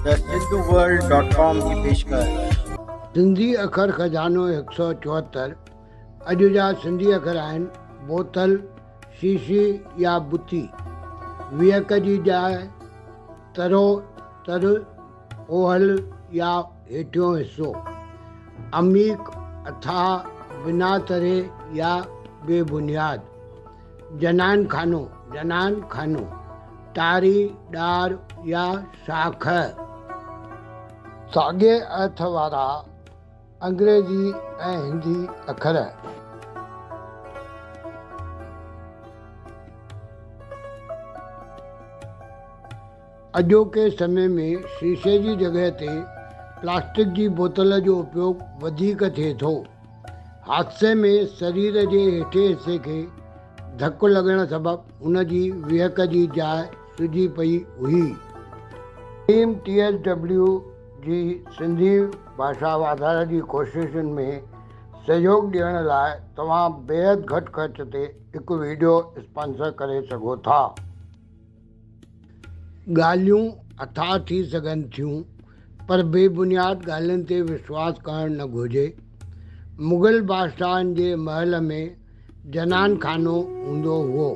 ته Sindhu world dot com جي پيشڪش. سنڌي اکر خزانو هڪ سؤ چوهتر اڄ جا سنڌي اکر آهن بوتل، شيشي يا بتي، ويهڪ جي جاء، ترو، تر، اوهل يا هيٺيون حصو، عميق، اٿاهه، بنا تري يا بي بنياد. جنان خانو، جنان خانو، ٽاري، ڏار يا شاخ. ساڳئي ارٿ وارا انگريزي ۽ هندي اکر. اڄوڪي سمي ۾ شيشي جي جڳهه تي پلاسٽڪ جي بوتل جو اپيوگ وڌيڪ ٿئي ٿو. حادثي ۾ سرير جي هيٺين حصي کي ڌڪ لڳڻ سبب ان جي ويهڪ جي جاء سجي پئي هئي. ٽيم ٽي ايس ڊبليو جي سنڌي ڀاشا واڌاري جي ڪوششن ۾ سهيوگ ڏيڻ لاء توهان بيحد گهٽ خرچ تي هڪ وڊيو اسپانسر ڪري سگهو ٿا. ڳالهيون اٿاهه ٿي سگهن ٿيون پر بي بنياد ڳالهين تي وشواس ڪرڻ نه گهرجي. مغل بادشاهن جي محل ۾ جنان خانو هوندو هئو.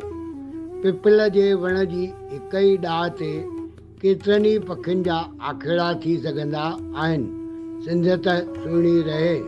پپل جي وڻ جي هڪ ئي ڏاهه تي ڪيترن ئي پکين جا آکيڙا ٿي سگهندا آهن. سنڌيت سهڻي رهي.